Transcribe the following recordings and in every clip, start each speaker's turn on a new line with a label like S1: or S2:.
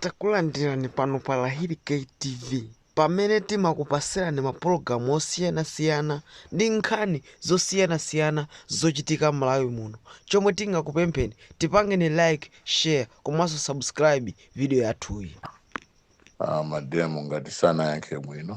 S1: Takulandirani pano pa Lahiri K TV pamene timakupasirani mapulogalamu osiyanasiyana ndi nkhani zosiyanasiyana zochitika Malawi muno. Chomwe tingakupempheni tipangeni like, share komanso subscribe video yathuyi. a mademo ngati sanayankhe bwino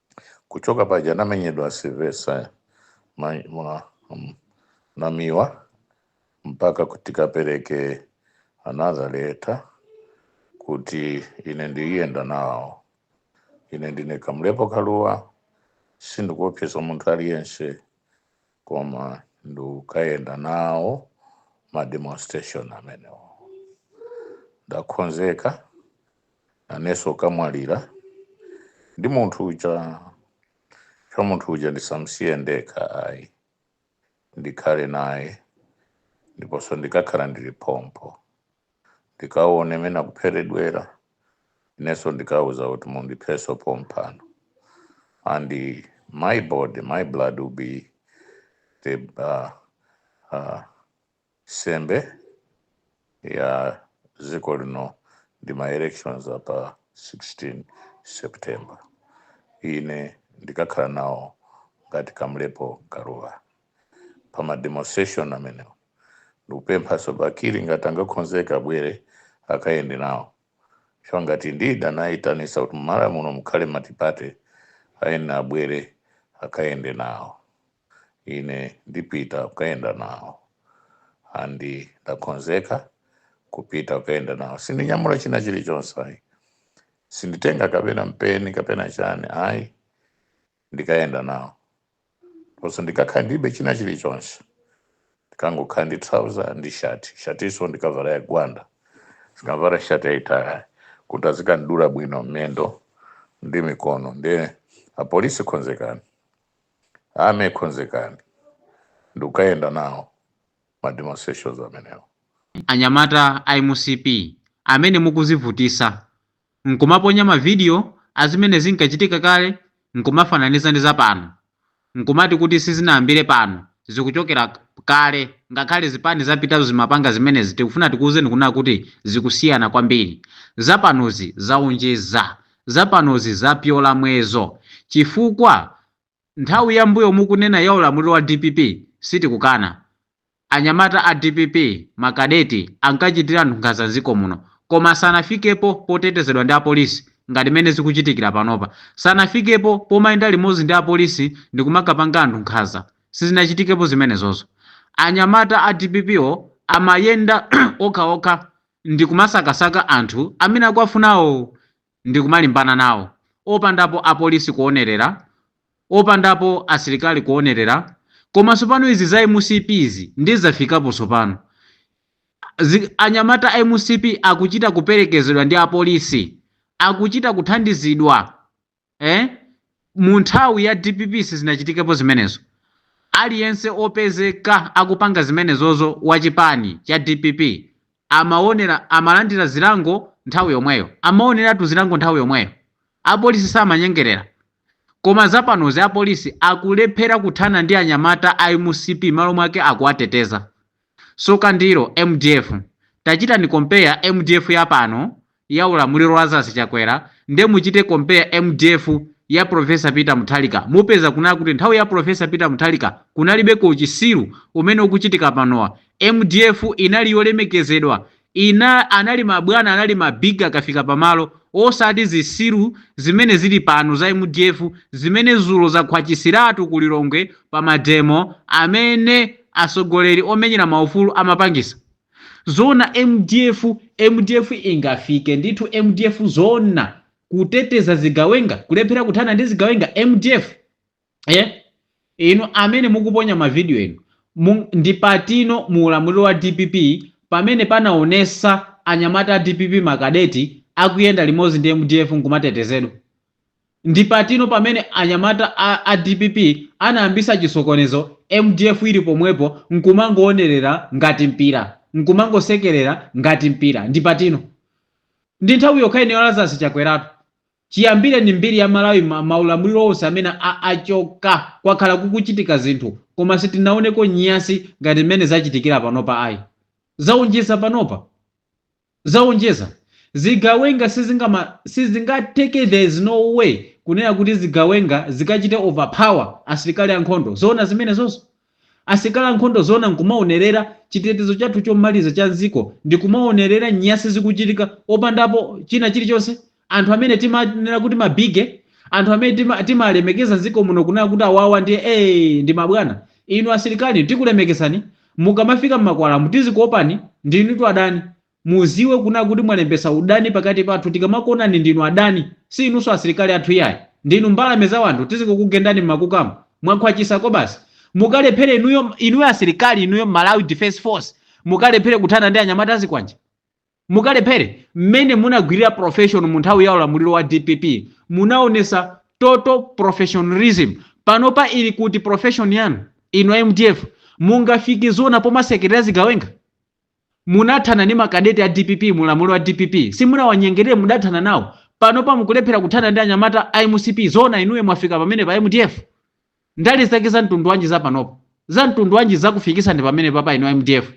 S1: kuchoka paja anamenyedwa Sylvester ma, ma, um, namiwa mpaka kuti kapereke another letter kuti ine ndiyenda nawo ine ndine kamlepo kaluwa sindikuopsezedwa munthu aliyense koma ndikukayenda nawo ma demonstration amenewo ndakhonzeka nanenso kukamwalira ndi munthu uja cha munthu uja ndisamsiye ndekha ayi ndikhale naye ndiponso ndikakhala ndili pompo ndikaone mene akupheredwera inenso ndikauza kuti mundipheso pompano and eh, my body my blood will be the uh, uh, sembe ya dziko lino ndi ma elections apa 16 september ine ndikakhala nawo ngati kamlepo kaluwa pa ma demonstration amenewo ndikupemphaso bakili ngati angakhonzeke abwere akayende nawo chifukwa ngati ndi amene anayitanisa kuti mumalawi muno mukhale matipate iyeyo abwere akayende nawo ine ndipita kukayenda nawo andi ndakhonzeka kupita kukayenda nawo sindinyamula china chilichonse ayi sinditenga kapena mpeni kapena chani ayi ndikayenda nawo Komanso ndikakhala ndilibe china chilichonse, ndikangokhala ndi trouser ndi shati, shatinso ndikavala ya gwanda, sindikavala shati yaitali kuti azikandidula bwino mmendo ndi mikono. Ndiye apolisi khonzekani, army khonzekani, ndikayenda nawo ma demonstrations amenewo. Anyamata a mcp amene mukuzivutisa n'kumaponya mavidiyo a zimene zinkachitika kale n'kumafananiza ndi za pano, n'kumati kuti sizinayambire pano, zikuchokera kale, ngakhale zipani zapitazo zimapanga zimenezi, tikufuna tikuuzeni kunena kuti zikusiyana kwambiri. Za panozi zaonjeza. Za panozi zapyola muyezo. Chifukwa Nthawi ya mbuyo mukunena ya ulamuliro wa dpp sitikukana. Anyamata a dpp ma kadeti ankachitira anthu nkhanza mziko muno koma sanafikepo potetezedwa ndi apolisi ngati mene zikuchitikira panopa. Sanafikepo pomayenda limodzi ndi apolisi ndikumakapanga anthu nkhanza. Sizinachitikepo zimenezozo. Anyamata a dpp wo amayenda okha okha ndikumasakasaka anthu amene akuwafunawo. ndikumalimbana nawo opandapo apolisi kuonerera, opandapo asilikali kuonerera koma sopano izi za mcp izi ndiye zafikapo sopano zi anyamata a mcp akuchita kuperekezedwa ndi apolisi akuchita kuthandizidwa eh mu nthawi ya dpp sizinachitikepo zimenezo aliyense opezeka akupanga zimenezozo wa chipani cha dpp amaonera amalandira zilango nthawi yomweyo amaoneratu zilango nthawi yomweyo apolisi samanyengerera koma zapanozi apolisi akulephera kuthana ndi anyamata a mcp malo mwake akuwateteza Soka ndilo mdf tachitani compare mdf ya pano ya ulamuliro Lazarus Chakwera ndi muchite compare mdf ya Prof Peter Muthalika mupeza kunena kuti nthawi ya Professor Peter Muthalika kunalibeko uchisiru umene ukuchitika panowa mdf inali yolemekezedwa Ina anali mabwana anali ma big akafika pamalo osati zisiru zimene zili pano za mdf zimene zulo zakhwachisiratu ku Lilongwe pa mademo amene asogoleri omenyera maufulu amapangisa. Zoona mdf mdf ingafike ndithu mdf zoona kuteteza zigawenga kulephera kuthana ndi zigawenga mdf eh? inu amene mukuponya mavidiyo enu mu- ndi patino mu ulamuliro wa dpp pamene panaonesa anyamata a dpp makadeti akuyenda limodzi ndi mdf nkumatetezedwa ndi patino pamene anyamata a, a dpp anayambisa chisokonezo mdf ili pomwepo nkumangoonerera ngati mpira nkumangosekerera ngati mpira ndi patino ndi nthawi yokha ino ya Lazarus Chakweratu Chiyambireni mbiri ya Malawi ma ma ulamuliro onse amene a achoka kwakhala kukuchitika zinthu koma sitinaoneko nyasi ngati mmene zachitikira panopa ayi. Zaonjeza panopa. Zaonjeza. Zigawenga sizingama sizingatheke there is no way kunena kuti zigawenga zikachite overpower asilikali ankhondo. Zoona zimenezozo? Asilikali ankhondo zoona nkumaonerera chitetezo chathu chomaliza cha mziko ndi kumaonerera nyasi zikuchitika opandapo china chilichonse? Anthu amene timanena kuti ma bigge, anthu amene tima timalemekeza mziko muno kunena kuti awawa ndiye ee ndi mabwana. Inu asilikali tikulemekezani, mukamafika mmakwalamu tizikuopani, ndinutu adani. Muziwe kunena kuti mwalembesa udani pakati pathu tikamakuonani ndinu adani si inuso asilikali athu iyayi ndinu mbalame za anthu tizingokugendani mmakukamu mwakhwachisa kobasi mukalephele inuyo inuyo asilikali inuyo Malawi defence force mukalephele kuthana ndi anyamata azikwanje mukalephele mmene munagwilira profession munthawi ya ulamuliro wa dpp munaonesa total professionalism panopa ili kuti profession yanu inu a mdf mungafike zoona pomasekelera zigawenga Munathana ndi makadeti a dpp mu ulamuliro wa dpp simunawanyengerere mudathana nawo panopa mukulephera kuthana ndi anyamata a mcp zoona inuyo mwafika pamenepapa mdf ndale zake za mtundu wanji za panopa za mtundu wanji zakufikisani pamenepapa inu a mdf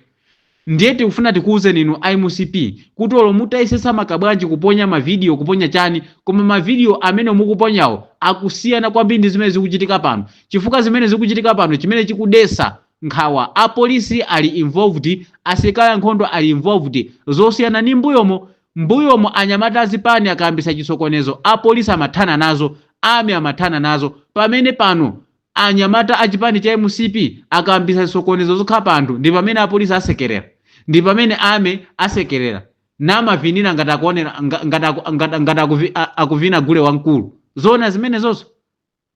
S1: ndiye tikufuna tikuwuzeni inu a mcp kuti olo mutayesetsa motani kabwanji kuponya mavidiyo kuponya chani koma mavidiyo amene mukuponyawo akusiyana kwambiri ndi zimene zikuchitika pano chifukwa zimene zikuchitika pano chimene chikudetsa nkhawa, a police ali involved, asilikali ankhondo ali involved, zosiyana ndi mbuyomu, mbuyomu anyamata azipani akayambisa chisokonezo a police amathana nazo, army amathana nazo, pamene pano anyamata achipani cha mcp akayambisa zisokonezo zokhapa anthu ndipamene a police amasekerera, ndipamene army amasekerera namavinira ngati akuonera ngati ngati ngati akuvina gule wamkulu, zoona zimenezozo?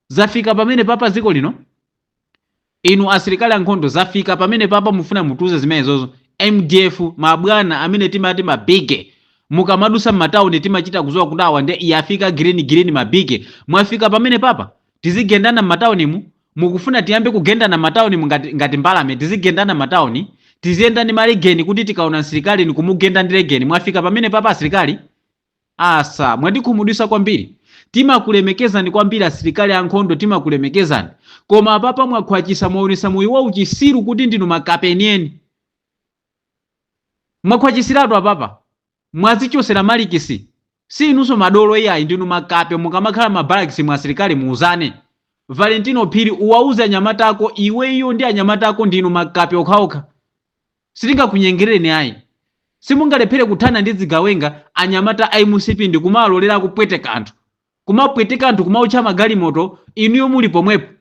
S1: Zafika pamenepapa dziko lino? Inu asilikali ankhondo zafika pamenepapa mufuna mutiuze zimenezozo? Mdf ma bwana amene timati ma bigge mukamadusa mmatauni timachita kuziwa kuti awa nde yafika green green ma bigge mwafika pamenepapa? Tizigendana mmataunimu? Mukufuna tiyambe kugendana mmataunimu ngati ngati mbalame tizigendana mmatauni? Tiziyenda ndi ma legeni kuti tikaona msilikali nkumugenda ndi legeni mwafika pamenepapa asilikali? Asa, mwatikhumudwisa kwambiri. Timakulemekezani kwambiri asilikali ankhondo timakulemekezani. Koma apapa mwakhwachisa mwaonesa moyo wa uchisiru kuti ndinu makape enieni. Mwakhwachisiratu apapa. Mwazichosera malikisi. Si inuso madolo iyayi ndinu makape mukamakhala ma barracks mu asilikali muuzane. Valentino Phiri uwauze anyamata ako iweyo ndi anyamata ako ndinu makape okhaokha. Sitingakunyengerereni ayi. Simungalephere kuthana ndi zigawenga, anyamata a mcp ndikumaalekera akupweteka anthu. Kumapweteka anthu kumaotcha magalimoto inuyo muli pomwepo.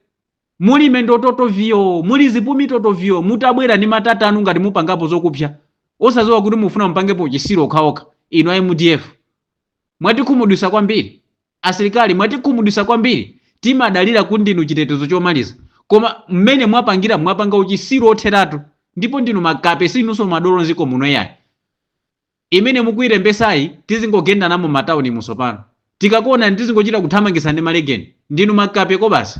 S1: Muli mendo totoviyoo, muli zipumi totoviyoo mutabwera ndi matata anu ngati mupangapo zokupsya. Osaziwa kuti mufuna mupangepo uchisiru wokhawokha inu a mdf. Mwatikhumudwisa kwambiri. Asilikali mwatikhumudwisa kwambiri timadalira kuti ndinu chitetezo chomaliza koma mmene mwapangiramu mwapanga uchisiru otheratu ndipo ndinu makape sinuso madolo nziko muno iyayi imene mukuilembesayi tizingogendanamo mmatawunimu sopano tikakuonani tizingochita kuthamangisana ndi malegeni ndinu makape kobasi.